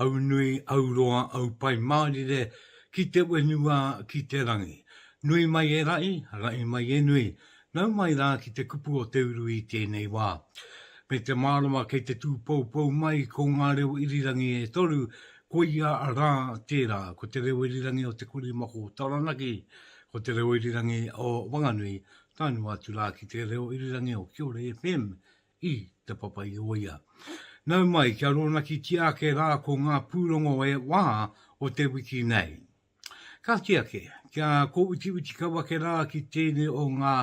Aunui, auroa, aupai mārire ki te whenua, ki te rangi. Nui mai e raʻi, raʻi mai e nui, nau mai rā ki te kupu o te uru i tēnei wā. Me te mārama kei te tūpoupou mai ko ngā reo irirangi e toru, koia rā tērā, ko te reo irirangi o Te Korimako o Taranaki, ko te reo irirangi o Wanganui, taenua atu rā ki te reo irirangi o Kiore FM i Te Papa-i-ōia. Nau mai kia rōnakitia ake rā ko ngā pūrongo e wā o te wiki nei. Kāti ake, kia kōwitiwiti kau ake rā ki tēnei o ngā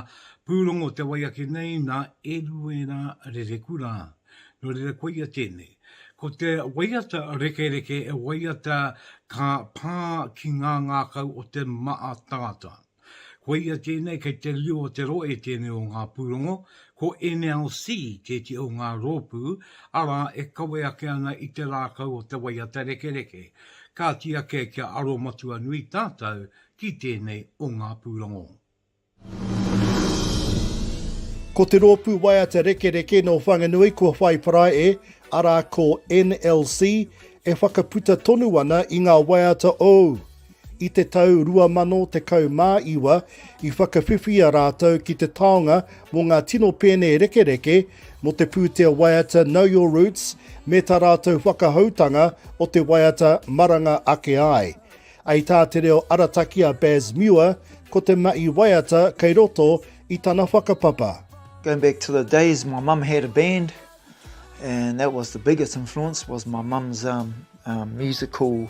pūrongo te wai ake nei nā Eruera Rerekura. Nō reira koia tēnei. Ko te waiata rekereke e waiata ka pā ki ngā ngākau o te Mātātā. Koia tēnei kei te riro o te rohe tēnei o ngā pūrongo, ko NLC tēti o ngā rōpū, arā e kawe ake ana i te rākau o te waiata rekereke. Kāti ake kia aro matua nui tātou ki tēnei o ngā pūrongo. Ko te rōpū waiata rekereke nō Whanganui kua whai parai e, arā ko NLC, e whakaputa tonu ana i ngā waiata ou. I te tau 2019, i whakawhiwhia rātou ki te taonga mō ngā tino pēne rekereke mō te pūtea waiata Know Your Roots me tā rātou whakahoutanga o te waiata Maranga Ake Ai. Ai tā te reo arataki a Baz Muir, ko te mahi waiata kei roto i tana whakapapa. Going back to the days my mum had a band and that was the biggest influence was my mum's um, um, musical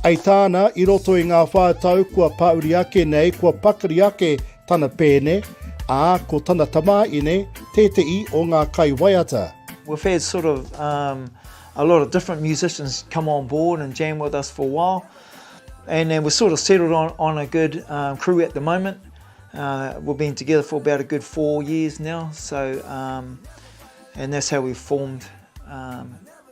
Hei tāna, i roto i ngā whā tau kua pāuri ake nei kua pakari ake tana pēne, ā, ko tana tamāine tēteʻi o ngā kaiwaiata. We've had sort of um a lot of different musicians come on board and jam with us for a while and then we're sort of settled on on a good um crew at the moment uh we've been together for about a good four years now so um and that's how we formed um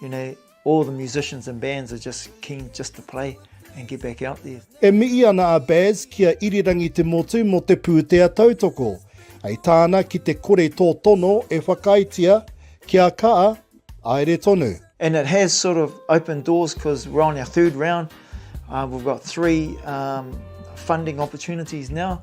You know, all the musicians and bands are just keen just to play and get back out there. E mihi ana a Baz ki a Irirangi Te Motu mo te pūtea tautoko. Hei tāna ki te kore tō tono e whakaaetia ki a Kaa, aere tonu. And it has sort of opened doors because we're on our third round. Uh, we've got three um, funding opportunities now.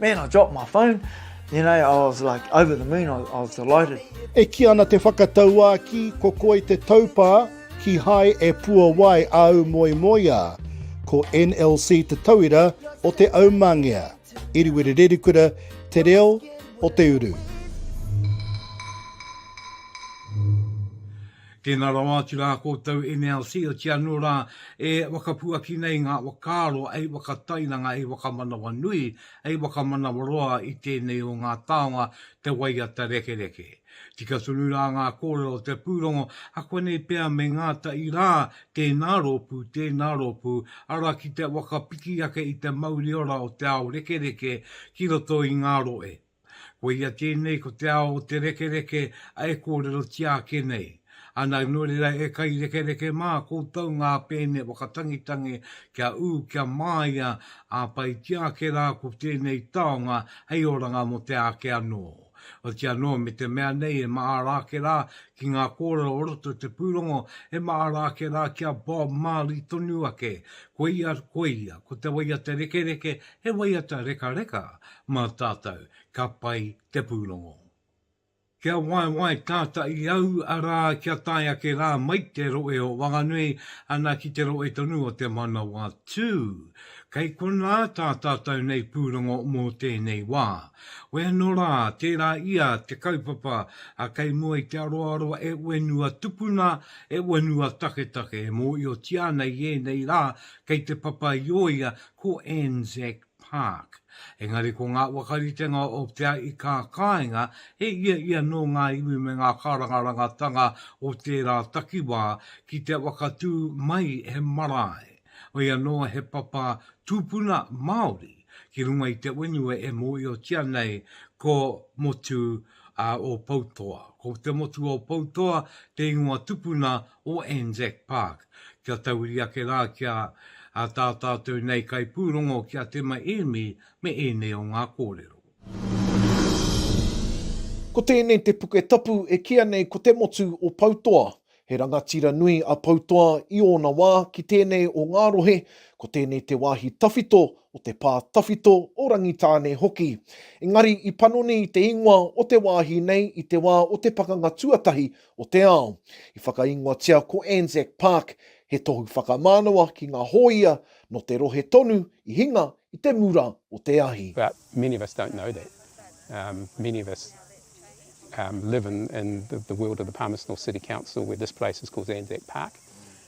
Man I dropped my phone, you know, I was like over the moon, I was delighted. E kī ana te whakatauākī, ko Koi te taupā, kīhai e puawai āu moemoeā. Ko NLC te tauira o te aumangea. Iriwiri Rerikura, Te Reo o te Uru. Tēnā rawa atu rā koutou NLC oti anō rā e whakapuaki nei ngā whakaaro hei whakatairanga, hei whakamanawanui, hei whakamanawaroa i tēnei o ngā taonga te waiata rekereke. Tika tonu rā ngā kōrero o te pūrongo, akuanei pea me ngātahi rā tēnā rōpū, tēnā rōpū, arā ki te whakapiki ake i te mauriora o te ao rekereke ki roto i ngā rohe. Koia tēnei ko te ao o te rekereke a e kōrerotia ake nei. Ana nō reira e kairekereke mā koutou ngā pēne whakatangitangi kia ū kia māia ā paitia ake rā ko tēnei taonga hei oranga mō te āke anō. Oti anō me te mea nei e mahara ake rā ki ngā kōrero o roto te pūrongo e mahara ake rā ki a Bob Marley tonu ake, koia, koia, ko te waiata rekereke He waiata rekareka mā tātou ka pai te pūrongo. Kia waewae tata i au, arā, kia tae ake rā mai te roe o Wanganui, ana ki te roe tonu o Te Manawatū. Kei konā tā tātou nei pūrongo mō tēnei wā. Wē anō rā, tērā ia te kaupapa a Kei mua i te aroaro e whenua tupuna, e whenua taketake, e mōhiotia ana i ēnei rā kei te papa i ō ia ko Anzac Park, engari ko ngā whakaritenga o Te Aikaikainga he ia ia nō ngā iwi me ngā kārangarangatanga o tērā takiwā ki te whakatū mai he marae, mai anō he papa tūpuna Māori ki runga i te whenua e mōhiotia nei ko Motu o Poutoa. Ko Te Motu o Poutoa te ingoa tupuna o Anzac Park kia tahuri ake rā ki a tā tātou nei kaipūrongo ki a Tema Ēmi me ēnei o ngā kōrero. Ko tēnei te puke tapu e kīa nei ko Te Motu o Poutoa. He rangatira nui a Poutoa i ōna wā ki tēnei o ngā rohe, ko tēnei te wāhi tawhito o te pā tawhito o Rangitāne hoki. Engari i panoni te ingoa o te wāhi nei i te wā o te Pakanga Tuatahi o te ao. I whakaingoatia ko Anzac Park, he tohu whakamānawa ki ngā hōia nō te rohe tonu i hinga i te mura o te ahi. But many of us don't know that. Um, many of us um, live in, in the, the world of the Palmerston North City Council where this place is called Anzac Park.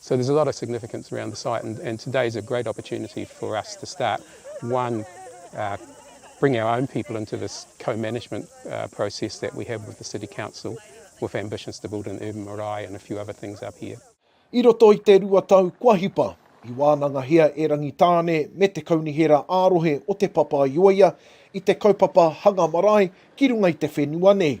So there's a lot of significance around the site and, and today is a great opportunity for us to start one uh, bring our own people into this co-management uh, process that we have with the city council with ambitions to build an urban marae and a few other things up here. I roto i te rua tau kua hipa, i wānangahia e Rangitāne me te kaunihera ā-rohe o Te Papa-i-oia i te kaupapa hanga marae ki runga i te whenua nei.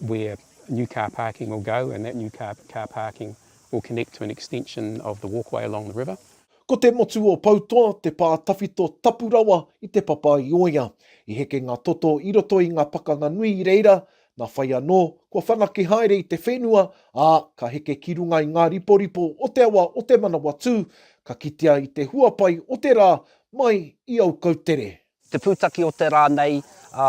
where new car parking will go and that new car car parking will connect to an extension of the walkway along the river. Ko te motu o Poutoa te pā tawhito tapu rawa i Te Papa-i-ōia. I heke ngā toto i roto i ngā pakanga nui i reira, nā whai anō, kua whanake haere i te whenua, ā, ka heke ki runga i ngā riporipo o te awa o Te Manawatū, ka kitea i te huapai o te rā mai i Aukoutere. Te pūtaki o te rā nei, ā,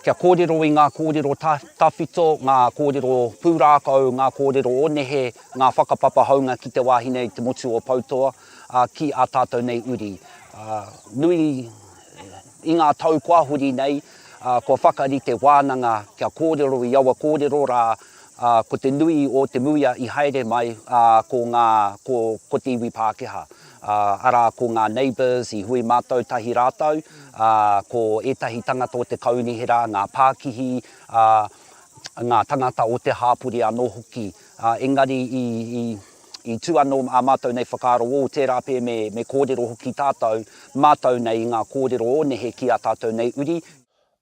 kia kōrero i ngā kōrero tawhito, ngā kōrero pūrākau, ngā kōrero o nehe, ngā whakapapa hounga ki te wāhi nei, te motu o Poutoa, ā, ki ā tātou nei uri. Ā, nui, i ngā tau kua huri nei, ā, kua whakari te wānanga kia kōrero i aua kōrero rā, ā, ko te nui o te muia i haere mai, ā, ko ngā, ko, ko te iwi Pākehā. Ā, arā, ko ngā neighbours i hui mātou tahi rātou, ā, ko ētahi tangata o te kaunihera, ngā pākihi, ā, ngā tangata o te hāpori anō hoki. Ā, engari i, i, i tū anō ā mātou nei whakaaro, ō, tērā pea me, me kōrero hoki tātou, mātou nei i ngā kōrero o nehe ki ā tātou nei uri.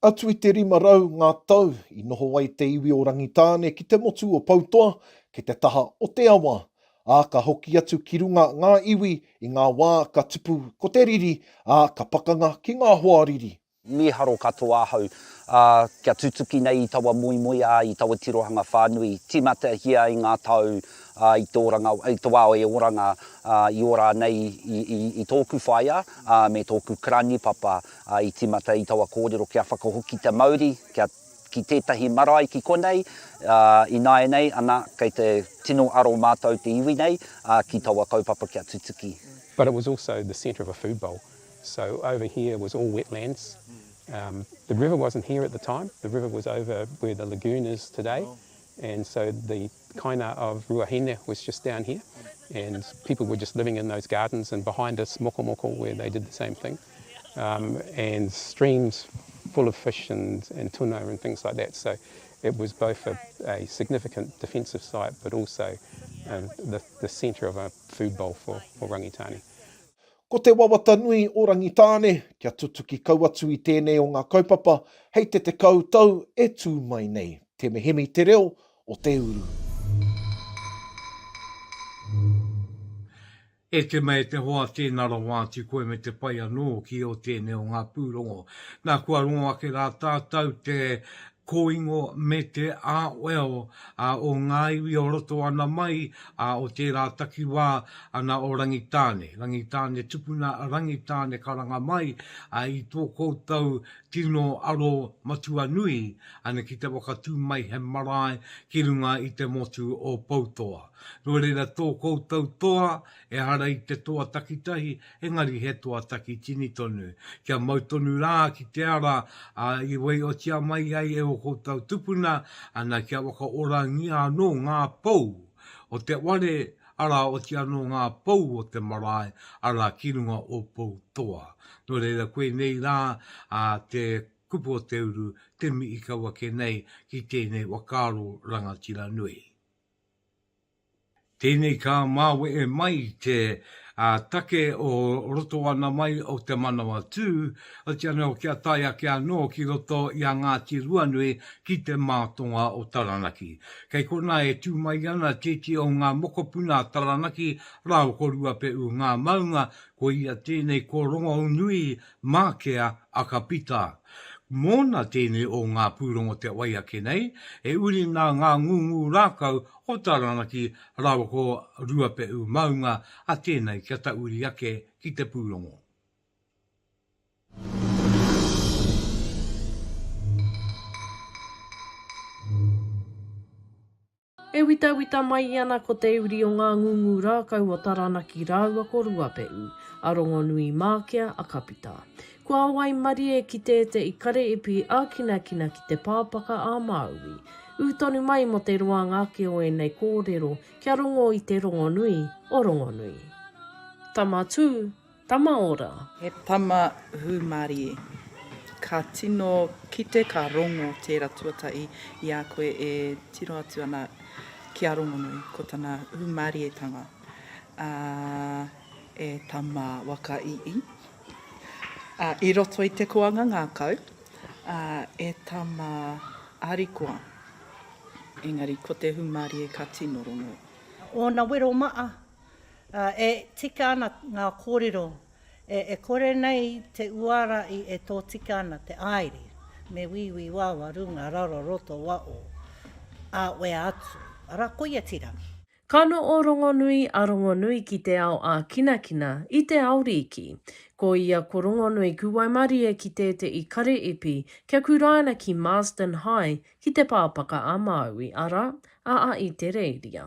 Atu i te rima rau ngā tau i noho ai te iwi o Rangitāne ki te motu o Poutoa, ki te taha o te awa, ā, ka hoki atu ki runga ngā iwi i ngā wā ka tupu ko te riri, ā, ka pakanga ki ngā hoa riri. Mīharo katoa ahau, ā, kia tutuki nei i taua moemoeā, i taua tirohanga whānui, tīmatahia ai ngā tau, ā, i te oranga, i te wā o e oranga, ā, i ora nei i, i, i tōku whaea, ā, me tōku karani papa, Ā, i tīmata i taua kōrero kia whakahoki te mauri, kia ki tētahi marae ki konei, ā, ināianei anā, kei te tino aro mātou te iwi nei, ā, ki taua kaupapa kia tutuki. But it was also the centre of a food bowl, so over here was all wetlands, um, the river wasn't here at the time, the river was over where the lagoon is today, and so the kaina of Ruahine was just down here and people were just living in those gardens and behind us Mokomoko where they did the same thing um, and streams full of fish and, and tuna and things like that so it was both a, a significant defensive site but also uh, the, the centre of a food bowl for, for Rangitane. Ko te wawata nui o Rangitāne kia tutuki kau atu i tēnei o ngā kaupapa hei te tekau tau e tū mai nei. Te mehemi te reo o te uru. E te mea e te hoa tēnā rawa atu koe me te pai anō ki ō tēnei o ngā pūrongo. Nā kua rongo ake rā tātau te kōingo me te āweo o ngā iwi o roto ana mai o tērā takiwā ana o Rangitāne, Rangitāne tupuna, Rangitāne karanga mai i tō koutou Tino aro matua nui ana ki te whakatū mai he marae ki runga i te motu o Poutoa. Nō reira tō koutou toa, ehara i te toa takitahi, engari he toa takitini tonu. Kia mau tonu rā ki te ara i waiotia mai ai e ō koutou tupuna, ana kia whakaorangia anō ngā pou o te ware, arā, oti anō ngā pou o te marae, arā, ki runga o Pou Toa. Nō reira, koinei rā te kupu o te uru, te mi i kau ake nei ki tēnei whakaaro rangatira nui. Tēnei ka māwehe mai te take o roto ana mai o te manawa tū, oti anō kia tae ake anō ki roto i a Ngāti Ruanui ki te mātonga o Taranaki. Kei konā e tū mai ana tētī o ngā mokopuna a Taranaki rā o Koruapeʻu ngā maunga, ko ia tēnei ko Rongonui Mākea a Ka Pita. Mōna tēnei o ngā pūrongo te wai ake nei, e uri nā ngā ngūngū rākau o Taranaki rā o Koruapeʻu maunga a tēnei kia tauri ake ki te pūrongo. E witawita mai ana ko te uri o ngā ngungu rākau o Taranaki rāua ko Ruapehu, a Rongonui Mākea, a Kapita. Kua waimarie ki tēteʻi kareipi ākinakina ki te pāpaka a Māui. Ū tonu mai mō te roanga ake o ēnei kōrero kia rongo i te rongonui o Rongonui. Tama Tū, Tama ora. He tama hūmarie. Ka tino kite ka rongo tēra tuatahi i a koe e tiro atu ana ki a Rongonui, ko tana hūmarietanga. Ā, e tama waka ii, ā, i roto i te koanga ngākau, ā, e tama arikoa, engari ko te hūmarie ka tino rongo. Ōna wero maa, Ā, e tika ana ngā kōrero, e kore nei te uara i e tōtika ana te aere, me wīwī wawa runga raro roto wa o, ā, wea atu. Arā, koia tira. Ka no o Rongonui a Rongonui ki te ao ākinakina, i te ao rīki. Ko ia ko Rongonui kuwaimarie ki tēteʻi kare ipi kia kuraina ki Marsden High ki te pāpaka a Māui, arā, a a Itereiria.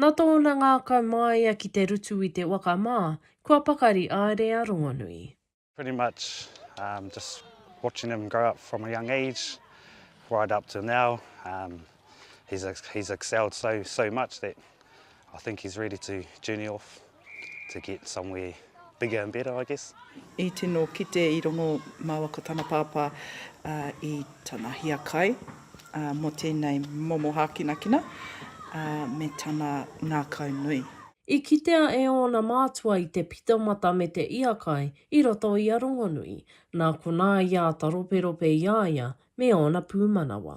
Nā tōna ngākau māia ki te rutu i te waka mā, kua pakari aere a Rongonui. Pretty much um just watching him grow up from a young age right up to now um he's he's excelled so so much that I think he's ready to journey off. to get somewhere bigger and better I guess. I tino kite i rongo maua ko tana pāpā i tana hiakai mo tēnei momo hākinakina me tana ngākau nui. I kitea e ōna mātua i te pito mata me te iakai i roto i a Rongonui, nā konā i āta roperope i a ia me ōna pūmanawa.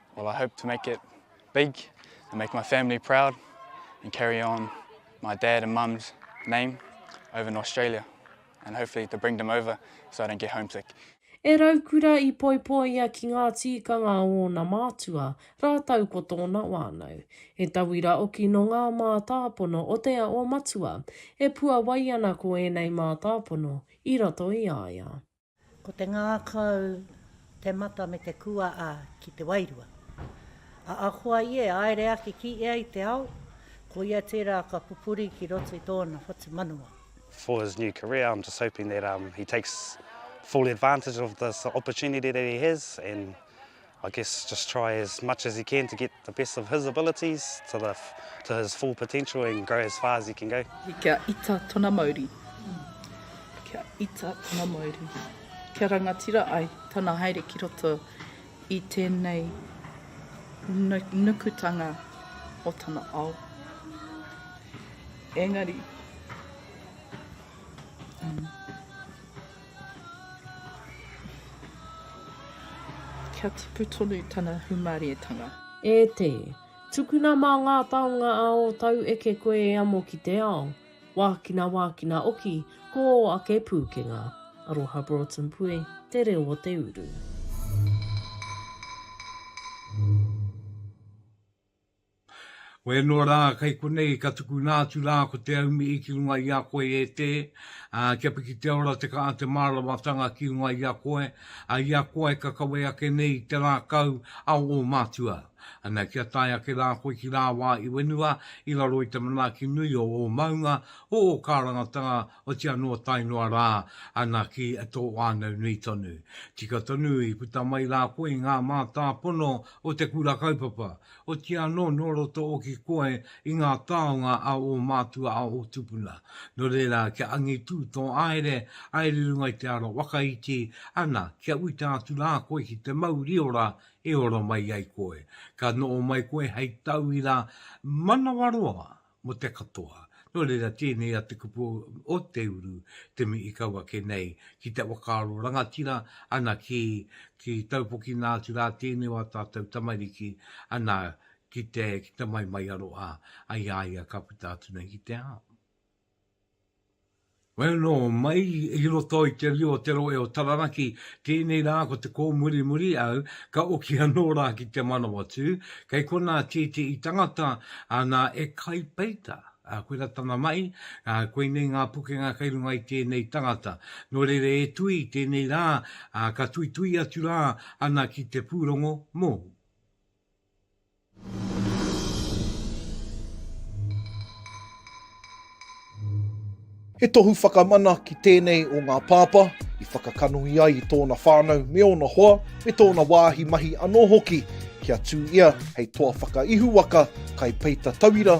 Well I hope to make it big and make my family proud and carry on my dad and mum's name over in Australia and hopefully to bring them over so I don't get homesick. E Raukura i poipoia ki ngā tīkanga o ōna mātua, rātou ko tōna wānau. He tauira oki nō ngā mātāpono o Te Ao Matua, e puawai ana ko ēnei mātāpono i roto i a ia. Ko te ngākau, te mata me te kuaa ki te wairua. A akoa i e aere ake ki ea i te ao, ko ia tera ka pupuri ki roto i tōna whatumanawa. for his new career I'm just hoping that um he takes full advantage of this opportunity that he has and I guess just try as much as he can to get the best of his abilities to the to his full potential and grow as far as he can go. Kia ita tona mauri. Kia ita tona mauri. Kia rangatira ai tana haere ki roto i tenei nukutanga o tana ao. Engari. Mm. Kia tipu tonu tana humarietanga. E te! Tukuna mā ngā taonga a ō tau eke koe e amo ki te ao. Wākina wākina oki, ko ō ake pūkenga. Aroha Broughton Pue, Te Reo o te Uru. Koe anō rā kei konei ka tukuna atu rā ko te aumi i ki runga i a koe e Te, ā, kia piki te ora te kaha te mārawatanga ki runga i a koe, ā, i a koe ka kawe ake nei i te rākau a ō mātua. Ana, kia tae ake rā koe ki rāwā i whenua i raro i te manaaki nui o ō maunga, o ō kārangatanga, oti anō tae noa rā ana ki tō whānau nui tonu. Tika tonu i puta mai rā koe i ngā mātāpono o te Kura Kaupapa, oti anō nō roto oki koe i ngā taonga a ō mātua a ō tupuna. Nō reira, kia angitū tō aere, aere i runga i te aro waka iti, ana, kia uita atu rā koe ki te mauri ora e ora mai ai koe. Ka noho mai koe hei tauira manawaroa mō te katoa. Nō reira, tēnei a te kupu o te uru te mea i kau ake nei ki te whakaaro rangatira, ana, ki, ki taupokina atu rā tēnei o ā tātou tamariki, ana, ki te, ki te maimaiaro a, a i a ia ka puta atu nei ki te ao. Whai anō, mai i roto i te rio o te rohe o Taranaki, tēnei rā ko te kōmurimuri au, ka oki anō rā ki te Manawatū, kei konā tētehi tangata, nā, e Kai Peita, koirā tana mahi, koinei ngā pukenga kei runga i tēnei tangata. Nō reira e Tui, tēnei rā, ka tuitui atu rā, ana ki te pūrongo mōu. He tohu whakamana ki tēnei o ngā pāpā i whakakanohi ai i tōna whānau me ōna hoa, me tōna wāhi mahi anō hoki kia tū ia hei toa whakaihuwaka kai peita tauira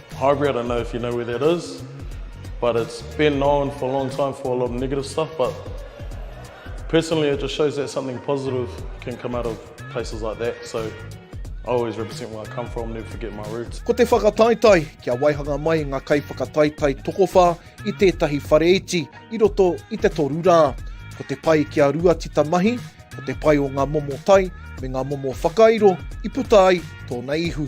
Highbury, I don't know if you know where that is, but it's been known for a long time for a lot of negative stuff, but personally it just shows that something positive can come out of places like that, so I always represent where I come from, never forget my roots. Ko te whakataetae, kia waihanga mai ngā kaiwhakataetae tokowhā i tētahi whare iti i roto i te toru rā. Ko te pai ki a rua tita mahi, ko te pai o ngā momo tai me ngā momo whakairo i puta ai tōna ihu.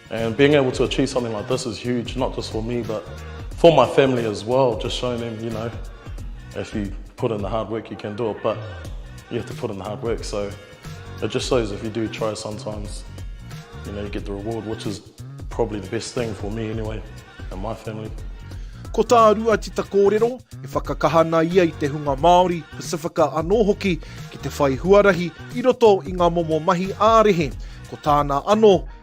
And being able to achieve something like this is huge, not just for me but for my family as well, just showing them, you know, if you put in the hard work you can do it, but you have to put in the hard work, so it just shows if you do try sometimes, you know, you get the reward, which is probably the best thing for me anyway, and my family. Ko tā Ruatita kōrero, e whakakaha ana ia i te hunga Māori, Pasifika anō hoki, ki te whai huarahi i roto i ngā momo mahi ā-rehe. Ko tāna anō,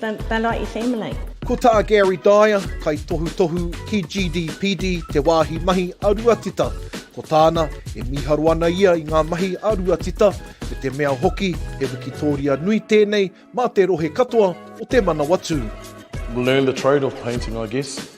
They're like your family. Ko tā Gary Dyer, kaitohutohu ki GDPD, te wāhi mahi a Ruatita. Ko tāna, e mīharo ana ia i ngā mahi a Ruatita, me te mea hoki he wikitōria nui tēnei mā te rohe katoa o te Manawatū. Learn the trade of painting, I guess.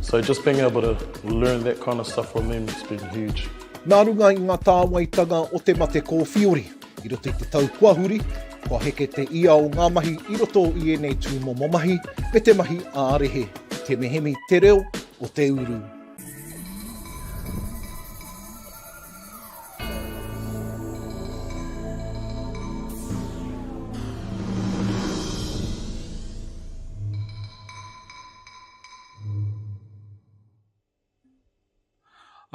So just being able to learn that kind of stuff from them has been huge. Nā runga i ngā tāwaitanga o te mate kōwhiori, i roto i te tau kua huri, kua heke te ia o ngā mahi i roto i ēnei tūmomo mahi me te mahi ā-rehe, te mehemi, te reo o te uru.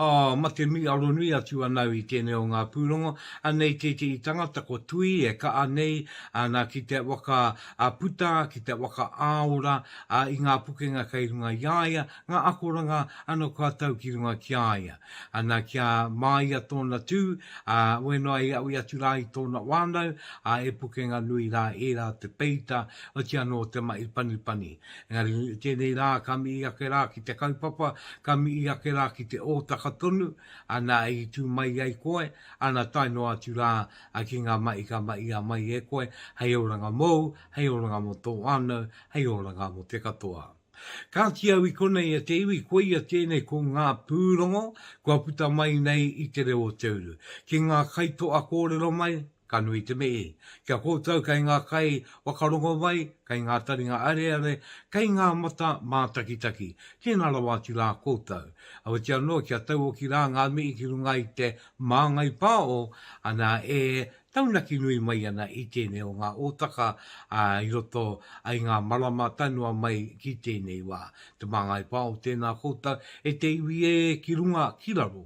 Oh, mate mi aronui atu anau i tenei o nga purongo, anei tete'i tangata ko Tui e ka'a nei ana ki te waka a puta, ki te waka aora a i nga pukenga kei runga i a ia, nga akoranga ano kua tau ki runga ki a ia. Ana kia maia tona tu, a wenoa e aui atu ra i tona wanau, a e pukenga nui ra era te peita, otiano te ma'i panipani. Engari, tēnei rā ka mihi ake rā ki te kaupapa, ka mihi ake rā ki te ōtaka tonu, ana i tū mai ai koe, ana tae noa atu rā ki ngā mahi ka mahia mai e koe, hei oranga mōu, hei oranga mō tō whānau, hei oranga mō te katoa. Kāti au i konei e te iwi, koia tēnei ko ngā pūrongo kua puta mai nei i te reo o te uru. Ki ngā kaitoa kōrero mai, Ka nui te mihi ki a koutou kei ngā kai whakarongo mai, kei ngā taringa areare, kei ngā mata mātakitaki. Tēnā rawa atu rā koutou. Aweti anō kia tauoki rā ngā mihi ki runga i te māngai pāo, ana e taunaki nui mai ana i tēnei o ngā ōtaka i roto i ngā marama tae noa mai ki tēnei wā. Te māngai pāo tēnā koutou e te iwi ē ki runga ki raro